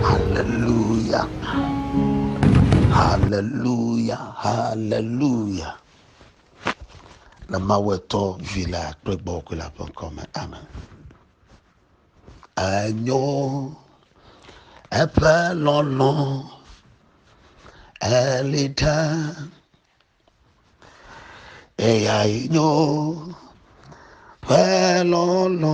Haleluya, haleluya, haleluya. Le Mawu etɔ vi la kple gbɔgbɔ la ƒe ŋkɔ me. Amen. Enyo eƒe lɔlɔ eli ɖe eya nyo ƒe lɔlɔ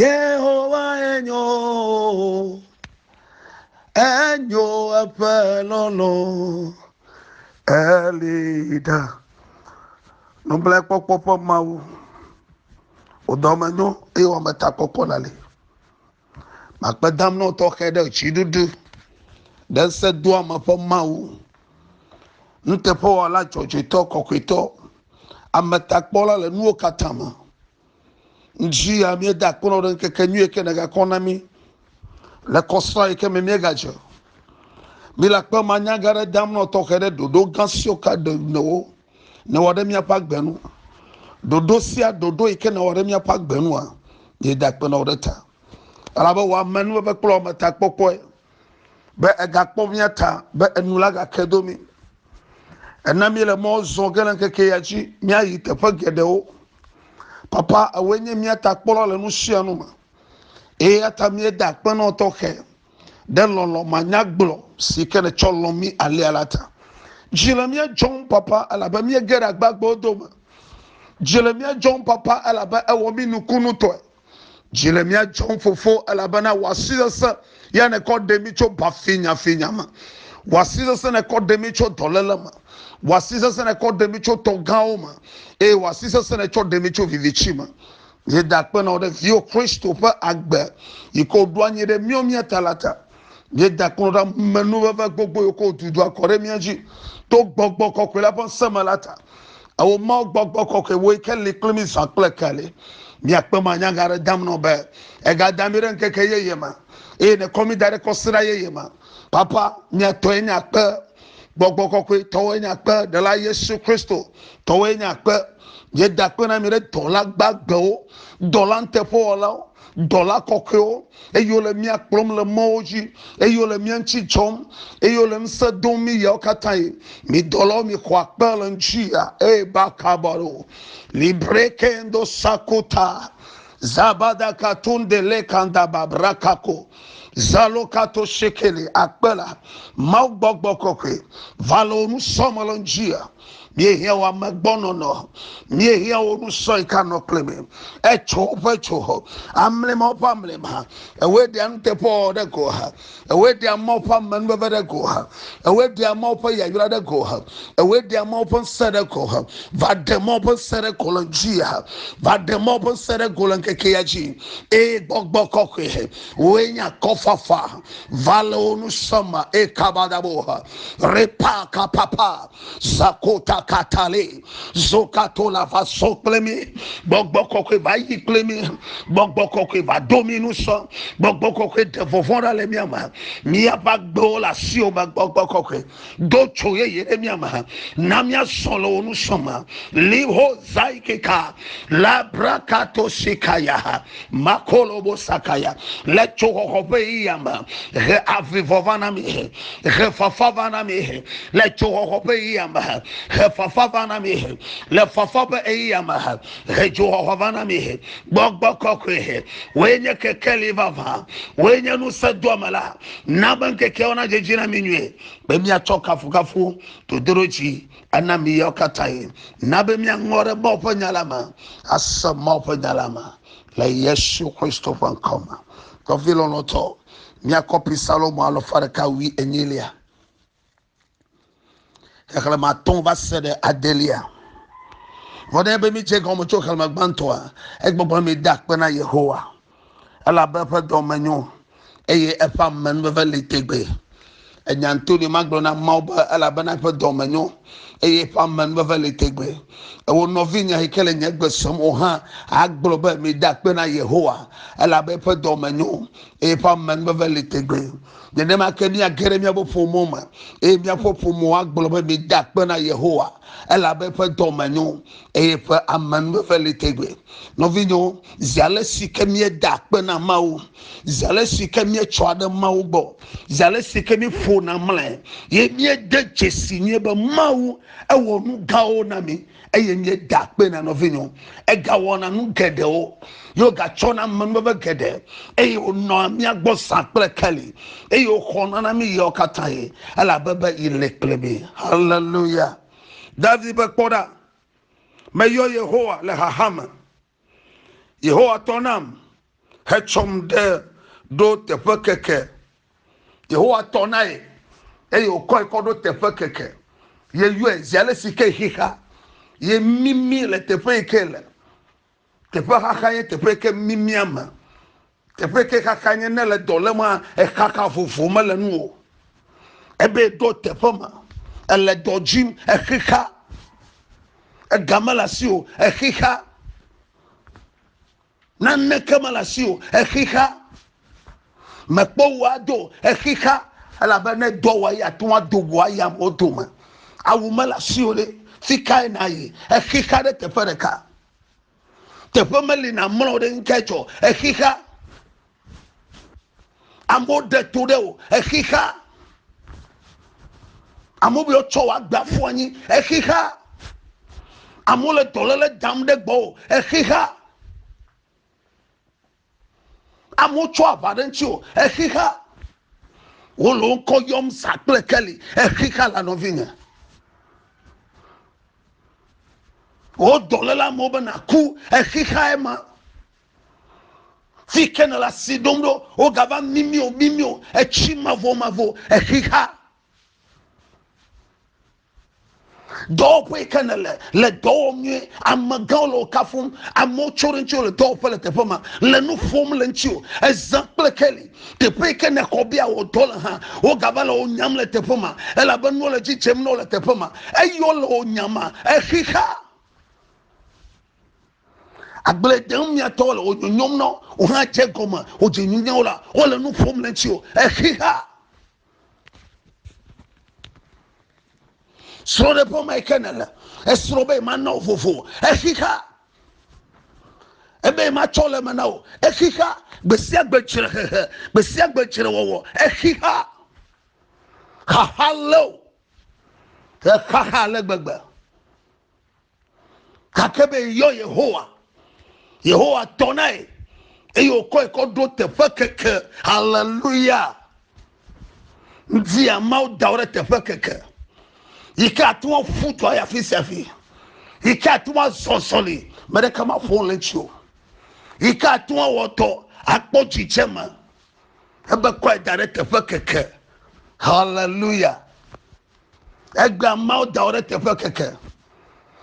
Yehowa enyo, enyo eƒe lɔlɔ, eli ɖa. Nublankpɔkpɔ ƒe Mawu, wò dɔme nyo eye wò ametakpɔkpɔ le ali. Makpe dam na wò tɔxɛ ɖe dziɖuɖu, ɖe ŋusẽ doa me ƒe Mawu, nuteƒewɔla dzɔdzɔetɔ, kɔkɔetɔ, ametakpɔla le nuwo katã me. Ŋdzi ya míeda akpɔnɔ ɖe ŋkeke nyui yike nègakɔ na mí le kɔsrã yike me míegadze. Míle akpe ma nya gã ɖe dam nɔ tɔxɛ ɖe ɖoɖo gã siwo ka ɖe nɔwo newɔ ɖe míaƒe agbe nu. Ɖoɖo sia ɖoɖo yike newɔ ɖe míaƒe agbe nua, míeda akpe nɔ ɖe ta. Elabe wò amenuveve kple wò ametakpɔkpɔe be egakpɔ mía ta be enu la gake do mí. Ena míele mɔ zɔ ge le ŋkeke ya dzi míayi teƒe geɖewo. Papa, ewoe nye mía ta kpɔla le nu sia nu me. Eya ta míeda akpe na wò tɔxɛ ɖe lɔlɔ̃ manyagblɔ si ke nètsɔ lɔ̃ mí alea la ta. Dzi le mía dzɔm, Papa, elabe míege ɖe agbagbewo dome. Dzi le mía dzɔm, Papa, elabe èwɔ mí nukunutɔe. Dzi le mía dzɔm fofo elabena wò asi sesẽ ya nèkɔ ɖe mí tso bafinyafinya me. Wò asi sesẽ nèkɔ ɖe mí tso dɔléle me. Wò asi sesẽ nèkɔ ɖe mí tso tɔ gãwo me eye wò asi sesẽ nètsɔ ɖe mí tso viviti me. Míeda akpe na wò ɖe viwò Kristo ƒe agbe yi ke wòɖo anyi ɖe míawo mía ta la ta. Míeda kplɔ ɖa menuveve gbogbo yiwo ke wotu ɖo akɔ ɖe mía dzi to gbɔgbɔ kɔkɔe la ƒe seme la ta. Ewɔ Mawu gbɔgbɔ kɔkɔe woe ke li kple mí zã kple keli. Míakpe me anya nya ɖe dam nɔ be ègada mí ɖe ŋkeke yeye me eye nèkɔ mí da ɖe kɔsiɖa yeye me. Papa, mía tɔe nye akpe. Gbɔgbɔ kɔkɔe tɔwoe nye akpe. Ɖela Yesu Kristo tɔwoe nye akpe. Míeda akpe na mi ɖe dɔla gbagbewo, dɔla nuteƒewɔlawo, dɔla kɔkɔewo, eye wole mía kplɔm le mɔwo dzi, eye wole mía ŋuti dzɔm, eye wole ŋusẽ dom mí ɣeawo katã ɣi. Mi dɔlawo, mixɔ akpe le ŋutia. Eye bakabaro, librekendo sakota, zabadakatundelekandababrakako, zalokatosekele, akpe la, Mawu gbɔgbɔ kɔkɔe, va le wò nusɔme le ŋutia. míehiã wo ame gbɔnɔnɔ míehiã wo nu sɔe ka nɔ kple me etso woƒe tso hɔ amlɛma woƒe amlɛma ewe ɖe anuteƒe wɔ ɖe go ha ewe ɖe ama woƒe amenuveve ɖe go ha ewe ɖe ama woƒe yayra ɖe go ha ewe ɖe ama woƒe ŋsɛ ɖe go ha va ɖe ma woƒe ŋsɛ ɖe go le dzi ha va ɖe ma woƒe ŋsɛ ɖe go le ŋkeke ya dzi eye gbɔgbɔ kɔkɔe woe nya kɔfafa va le wo nu sɔma eye kabadabo ha Repa kapapa zakota katale zokato la va so kple mi gbɔgbɔ kɔkɔe va yi kple mi gbɔgbɔ kɔkɔe va do mi nu sɔ gbɔgbɔ kɔkɔe ɖe vɔvɔ ɖa le mia me miaƒe agbewo le asiwo me gbɔgbɔ kɔkɔe do tso yeye ɖe mia me na mia sɔ le wo nu sɔ me liho zaikeka labrakato sikaya makolobo sakaya le tsoxɔxɔ ƒe ɣeya me he avivɔ va na mi he fafa va na mi he le tsoxɔxɔ ƒe ɣeya me he fafa va na mi he le fafa ƒe ɣeya me he tsoxɔxɔ va na mi he gbɔgbɔ kɔkɔe he woe nye kekeli vava woe nye nusẽ doame la na be ŋkekewo na dzedzi na mi nyuie be miatsɔ kafukafu dodoro dzi Ena mi yawo katã ye. Na be miaŋlɔ ɖe Mawu ƒe nya la me, ase Mawu ƒe nya la me le Yesu Kristo ƒe ŋkɔ me. Nɔvi lɔlɔ̃tɔ, mia kɔpi Salomo alafa ɖeka wui enyilia, xexlẽme atɔ̃ va se ɖe adelia. Vɔ ne be midze gɔme tso xexlẽme gbãtɔa, egbɔgblɔ mi da akpe na Yehowa. Elabe eƒe dɔ me nyo, eye eƒe amenuveve li tegbee. Ènya nutoɖoe ma gblɔ na ameawo be, Elabena eƒe dɔ me nyo, eye eƒe amenuveve li tegbee. Ewò nɔvinye yi ke le nye gbe sem o hã agblɔ be, Mide akpe na Yehowa, elabe eƒe dɔ me nyo, eye eƒe amenuveve li tegbee. Nenema ke míage ɖe míaƒe ƒomewo me, eye míaƒe ƒomewo agblɔ be, Mide akpe na Yehowa, elabe eƒe dɔ me nyo, eye eƒe amenuveve li tegbee. Nɔvinyewo, zi ale si ke míeda akpe na Mawu, zi ale si ke míetsɔa ɖe Mawu gbɔ, zi ale si ke míeƒona mlɔe, ye míede dzesi nyuie be Mawu ewɔ nu gãwo na mi eye míeda akpe na nɔvinyewo. Egawɔna nu geɖewo, ye wogatsɔna amenuveve geɖe, eye wònɔa mía gbɔ zã kple keli, eye wòxɔna na mí ɣeawo katã ɣi, elabe be yi le kple mí. Haleluya! David be, Kpɔ ɖa, meyɔ Yehowa le xaxa me. Yehowa tɔ nam hetsɔm ɖe ɖo teƒe keke. Yehowa tɔ na ye eye wòkɔe kɔ ɖo teƒe keke. Yeyɔe zi ale si ke xexa ye mimi le teƒe yi ke le. Teƒe xaxa ye teƒe yi ke mimia me. Teƒe ke xaxa nye ne le dɔ lema exaxa vovo me le nu o. Ebe do teƒe me ele dɔ dzim exixa. Ega me le asi o exixa. Nane ke me le asi o exixa. Mekpɔ wò ado exixa elabe ne dɔ wɔ ya tún ado wò aya mo dome. Awu me le asi o ɖe fikae na yi exixa ɖe teƒe ɖeka. teƒe meli na mlɔ ɖe ŋkɛ tsɔ exixa amewo ɖe to ɖe o exixa amewo bɛ tsɔ wa gba fɔ anyi exixa amewo le dɔlele dam ɖe gbɔ o exixa amewo tsɔ aʋa ɖe ŋuti o exixa wole wo ŋkɔ yɔm sa kple keli exixa la nɔvinye wo dɔléla amewo be naku exixae ma fi ke nele asi ɖom ɖo wogava mimio mimio etsi mavomavo exixa dɔwɔƒe yi ke nele le dɔ wɔm nyuie amegãwo le wo kafum amewo tso ɖe ŋuti le dɔwɔƒe le teƒe ma le nu ƒom le ŋuti o ezã kple keli teƒe yi ke ne xɔ bia wɔ dɔ le hã wogava le wo nyam le teƒe ma elabe nuwo le dzi dzem na wo le teƒe ma eye wole wo nyama exixa agble dem miatɔ le wo nyonyom na wo hã dze gɔme wodze nyonyawo la wole nu ƒom le ŋuti o exixa srɔ̃ɖeƒe ma ke nèle esrɔ̃ be mana wo vovo exixa ebe matsɔ le me na wo exixa gbesia gbe tsre hehe gbesia gbe tsre wɔwɔ exixa xaxa leo exaxa le gbegbe gake be yɔ yehowa yehowa tɔ nae eye wòkɔe kɔ ɖo teƒe keke haleluya ŋdi amawo da wo ɖe teƒe keke yi ke ate ŋu aƒu dɔ ayi afi sia afi yi ke ate ŋu azɔ zɔli me ɖeka maƒo le ŋuti o yi ke ate ŋu awɔ dɔ akpɔ dzidzɛ me ebe kɔe da ɖe teƒe keke haleluya Egbe ameawo da wo ɖe teƒe keke.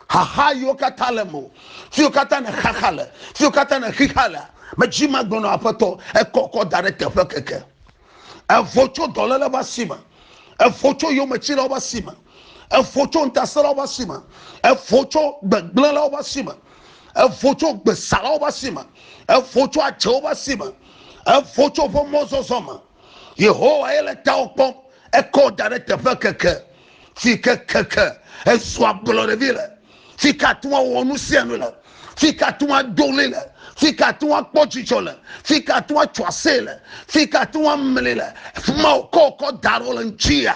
Xaxa yiwo katã le mo, fiwo katã ne xaxa le, fiwo katã ne xixa le, medzi ma gblɔ nɔ aƒetɔ, ekɔkɔ da ɖe teƒe keke. Evo tso dɔlele ƒe asi me, evo tso yometsilawo ƒe asi me, evo tso ŋutasẽlawo ƒe asi me, evo tso gbegblẽlawo ƒe asi me, evo tso gbesalawo ƒe asi me, evo tso adzewo ƒe asi me, evo tso woƒe mɔzɔzɔ me. Yehowae le tawò kpɔm. Ekɔ wò da ɖe teƒe keke si ke keke ezu ablɔɖevi le, si ke ate ŋu awɔ nu sia nu le, si ke ate ŋu ado ɣli le, si ke ate ŋu akpɔ dzidzɔ le, si ke ate ŋu atso asee le, si ke ate ŋu amli le. Fi ma wòkɔ wò kɔ da ɖe wo le ŋuti ya.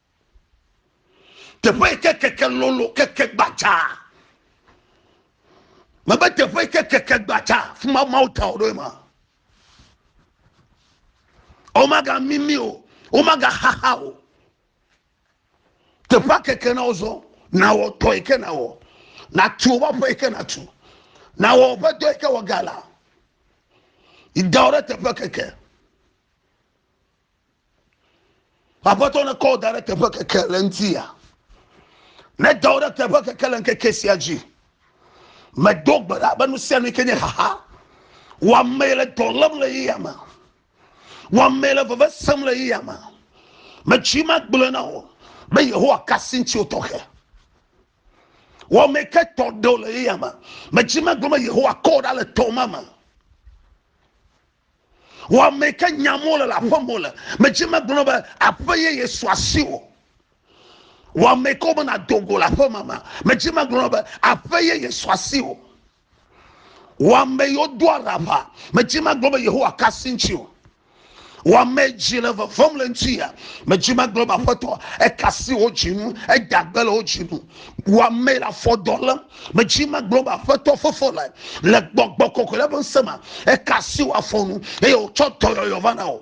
teƒe yi ke keke lolo keke gbadza mebe teƒe yi ke keke gbadza fi ma mawo ta wo ɖo ma womaga mimi o womaga xaxa o teƒe keke na wozɔ na wɔ tɔ yi ke na wɔ na tu wo ƒe yi ke na tu na wɔ ƒe dɔ yi ke wɔ gala yi da wo ɖe teƒe keke. Aƒetɔ ne kɔ da ɖe teƒe keke le ŋuti ya. Ne da wo ɖe teƒe keke le ŋkeke sia dzi. Medo gbe ɖa be nu sia nu yi ke nye xaxa. Wɔame le dɔ lém le yi ya me. Wɔame le veve sem le yi ya me. Metsi ma gblẽ na wo be Yehowa kasi ŋuti wo tɔxɛ. Wɔame ke tɔ ɖe wo le yi ya me. Metsi ma gblẽ be Yehowa kɔ ɖa le tɔ ma me. Wɔame ke nyam wole le aƒe me wole. Medze megblɔ be aƒe yeye su asi wò. Wɔame ke wo bena do go le aƒe me me. Medze megblɔ be aƒe yeye su asi wò. Wɔame yewo do araba. Medze megblɔ be Yehowa ka si ŋuti o. Wɔame dzi le vevem le ŋuti ya. Medze megblɔ be aƒetɔ eka si wo dzi nu. Eda gbe le wo dzi nu. Wɔame le afɔ dɔ lem. Medzi magblɔ be aƒetɔ fefɔ lae le gbɔgbɔ kɔkɔe la ƒe ŋusẽ me eka asi wò afɔ nu eye wòtsɔ dɔyɔyɔ va na wò.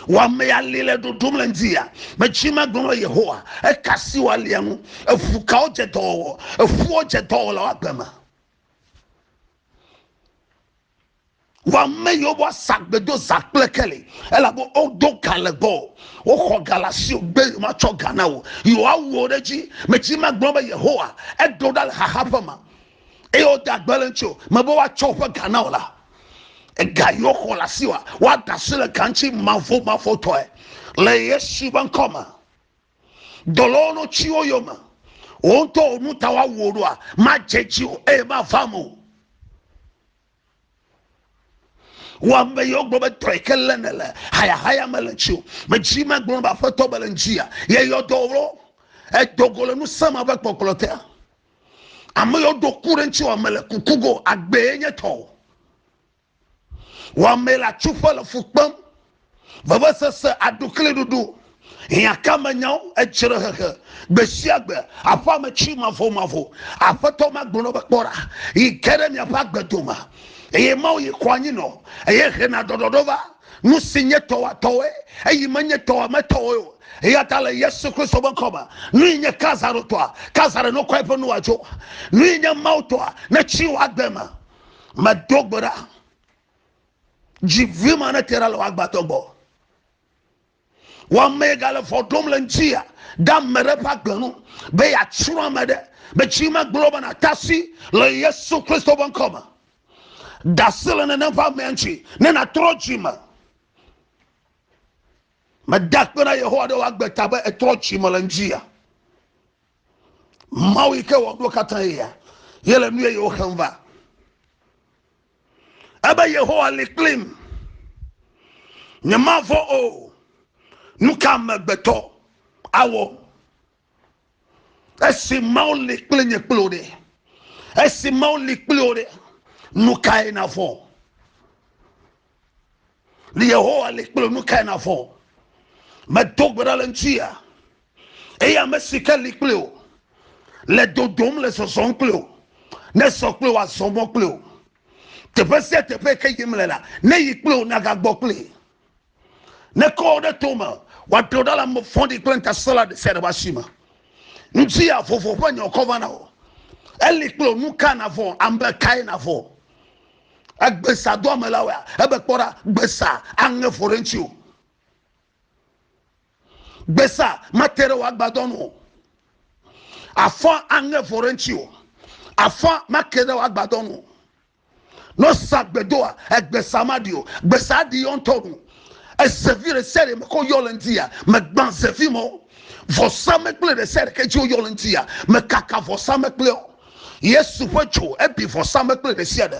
Wò ame ali le ɖoɖom le ŋdiya. Medzi magblɔ be Yehowa eka asi wò alia ŋu. Eŋu kawo dze dɔwɔwɔ? Eŋuwo dze dɔwɔlawo agbe me. wɔame yiwo bɔ sagbe do za kple keli elabe wodo ga le gbɔ woxɔ ga le asi o gbe yewo matsɔ ga na o yewoawu wo ɖe edzi metsi ma gblɔ be yehowa edo ɖa le xaxa ƒe ma eye wode agbe le ŋuti o mebe woatsɔ woƒe ga na o la ega yewo xɔ le asi wa woada asi le ga ŋuti mavomavotɔe le yesu be ŋkɔ me dɔlɔwo no tsiwo yome wò ŋutɔ wò nu ta woawu wò ɖoa madze dzi o eye mavam o wò ame yiwo gblɔ be trɔe ke lé ne le hayahaya me le ŋuti o medzi magblɔ ne be aƒetɔ be le ŋutia yeyɔ dɔ wò edogo le ŋusẽ ma ƒe kpɔkplɔ te ame yiwo ɖo ku ɖe ŋuti wɔ me le kuku go agbee nye tɔwo Wɔmee le atsuƒe le fu kpem. Vevesese, aɖukliɖuɖu, hiãkamenyawo, edzrehehe gbesiagbe, aƒeametsri mavomavo. Aƒetɔ ma gblɔ be, Kpɔ ɖa, yi ge ɖe miaƒe agbe dome, eye Mawu yi xɔ anyi nɔ, eye hena ɖɔɖɔɖɔ va. Nu si nye tɔwòa tɔwoe, eyi menye tɔwòa me tɔwoe o. Eya ta le Yesu Kristo ƒe ŋkɔ me, nui nye Kaisaro tɔa, Kaisaro nokɔe ƒe nuwoa dzo. Nui nye Mawu tɔa, netsri wò agbe me. medo gbe ɖa dzi vi ma ne tera le woagbatɔ gbɔ wɔmee gale vɔ ɖom le ŋutia ɖe ame ɖe ƒe agbe nu be yeatsrɔ̃ ame ɖe metsi megblɔ be natasi le yesu kristo ƒe ŋkɔ me dasi le nenem ƒe amea ŋuti ne natrɔ dzi me meda kpe na yehowa ɖe woagbe ta be etrɔ dzi me le ŋutia mawu yi ke wɔɖo katã yea yele nu yeyewo xem va ebe yehowa li kplim nyemavɔ o nu ka amegbetɔ awɔ esi mawu li kpli nye kpli o ɖe esi mawu li kpli o ɖe nu kae navɔ ne yehowa li kple nu kae navɔ medo gbe ɖa le ŋutia eye ame si ke li kple o le dodom le zɔzɔm kple o ne sɔ kple o azɔ mɔ kple o teƒe sia teƒe ke yim le la ne yi kple o nagagbɔ kple ne kɔ wo ɖe to me wòaɖo ɖa le ame fɔɖi kple ntasela ɖe sia ɖe ƒe asi me ŋutia vovo ƒe nyɔkɔ va na o eli kple o nu ka navɔ ame kae navɔ Egbesa doame la wɔa ebe kpɔ ɖa gbesa aŋe vɔ ɖe ŋuti o. Gbesa mate ɖe wò agbadɔ nu o. Afɔ aŋe vɔ ɖe ŋuti o. Afɔ make ɖe wò agbadɔ nu o. Ne wosa gbedoa, egbesa maɖi o. Gbesa aɖi yɔ ŋutɔ nu. Ezevi ɖe sia ɖe me ke woyɔ le ŋuti ya, megbã zevi me o. Vɔsamlekpui ɖe sia ɖe ke dzi woyɔ le ŋuti ya, mekaka vɔsamlekpuia o. Yesu ƒe dzo ebi vɔsamlekpui ɖe sia ɖe.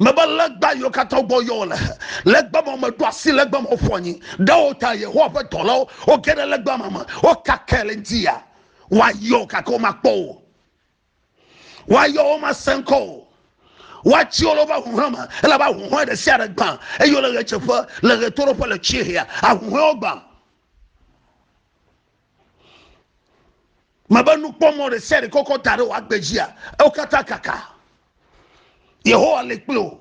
Mebe legba yiwo katã gbɔ yɔ wole, legba ma meɖo asi legba ma ƒu anyi. Ɖe wo ta Yehowa ƒe dɔlawo woge ɖe legba ma me, wokake le eŋuti ya. Woayɔ gake womakpɔ o. Woayɔ womasẽ ŋkɔ o. Woatsi wo le woƒe ahuhɔe me, elabe ahuhɔe ɖe sia ɖe gbã, eye wole ɣedzeƒe, le ɣetoɖoƒe, le tsiehea, ahuhɔewo gbã. mebe nukpɔmɔ ɖe sia ɖe kɔkɔ da ɖe wò agbe dzia ewo katã kaka yehowa le kple o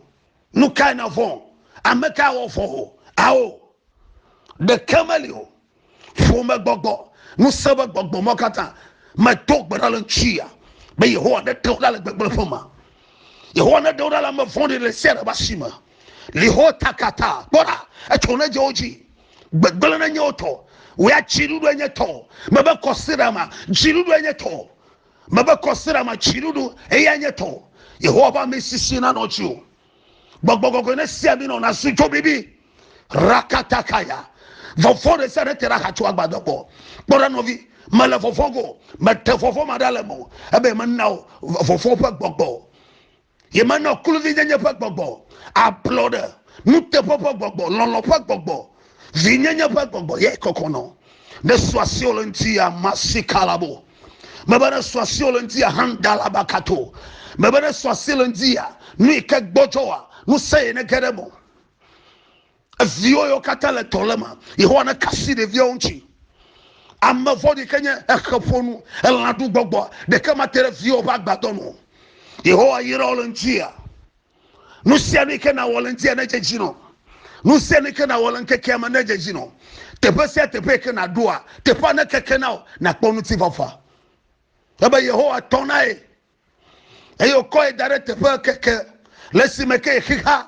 nu kae na vɔ ame kae wɔ vɔ o ao ɖeke meli o ƒome gbɔgbɔ ŋusẽ be gbɔgbɔ mɔ katã medo gbe ɖa le ŋutia be yehowa ne ɖe wo ɖa le gbegblẽ ƒe ma yehowa ne ɖe wo ɖa le ame vɔ̃ɖi le sia ɖe ba si me liho takata kpɔɖa etso ne dze wo dzi gbegblẽ ɖe nyewo tɔ wò ya dziɖuɖu enye tɔ mebe kɔsiɖama dziɖuɖu enye tɔ mebe kɔsiɖama dziɖuɖu eya enye tɔ yehowa ƒe amesisi nanɔ dzi o gbɔgbɔ gɔgɔe ne sia mi nɔ nasu dzo bibi rakatakaya vɔvɔ ɖe sia ɖe te ɖe ahatso agbadɔ gbɔ kpɔ ɖe nɔvi mele vɔvɔ go mete vɔvɔ ma ɖe ale me o ebe mena o vɔvɔ ƒe gbɔgbɔ Yemenɔ kluvinyenye ƒe gbɔgbɔ, ablɔɖe, nuteƒe ƒe gbɔgbɔ, lɔlɔ̃ ƒe gbɔgbɔ, vinyenye ƒe gbɔgbɔ ye kɔkɔ nɔ. Ne sua siwo le ŋuti ya masi kalabo. Mebe ne sua siwo le ŋuti ya handalaba kato. Mebe ne sua si le ŋuti ya nu yi ke gbɔdzɔ wa nu se ye ne ge ɖe mo. Eviwo yɔ katã le tɔ le ma. Yehowa ne kasi ɖeviawo ŋuti. Ame vɔɖi ke nye exe ƒonu, elã ɖu gbɔgbɔ, ɖeke ma te ɖe viwo ƒe agbadɔ nu. Yehowa yra wo le ŋutia. Nu sia nu ke na wɔ le ŋutia ne dzedzi nɔ. Nu sia nu ke na wɔ le ŋkekea me ne dzedzi nɔ. Teƒe sia teƒe ke na ɖoa, teƒea ne keke na o, na kpɔ ŋuti fafa. Ebe Yehowa tɔ na ye. Eye wokɔ ye da ɖe teƒe keke le si me ke ye xixa.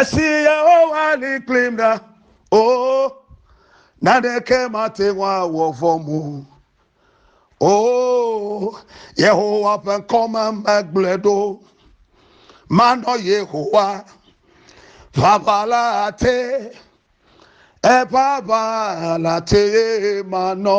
Esi Yehowa li kplim ɖa, o, naneke mate ŋu awɔ vɔ̃m o. O, Yehowa ƒe ŋkɔ me megblɔe ɖo. Manɔ Yehowa, ʋaʋãla te, eƒe aʋãla tee manɔ.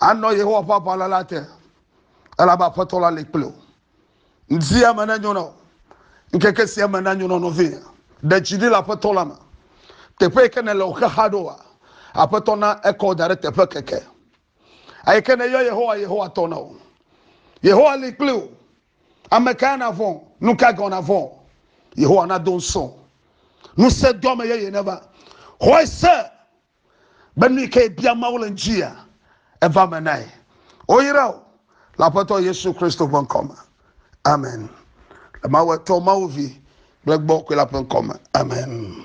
Anɔ Yehowa ƒe aʋala la te, elabe Aƒetɔ la li kpli wò. Ŋdia me nenyo na wò. Ŋkeke sia me nanyo na wò nɔvinye. Ɖe dzi ɖi le Aƒetɔ la me. Teƒe yi ke nèle wò xexa ɖoa, Aƒetɔ na ekɔ wò da ɖe teƒe keke. Eyi ke nèyɔ Yehowa, Yehowa tɔ na wò. Yehowa li kpli wò. Ame kae nàvɔ̃? Nu ka gɔ̃ nàvɔ̃? Yehowa nado ŋusẽ wò. Ŋusẽ doa me yeye neva. Xɔe se be nu yi ke bia Mawu le ŋutia, eva me nae. Woyra wò le Aƒetɔ Yesu Kristo ƒe ŋkɔ me. Amen. Le Mawu Etɔ, Mawu Vi kple Gbɔgbɔ Kɔe la ƒe ŋkɔ me. Amen.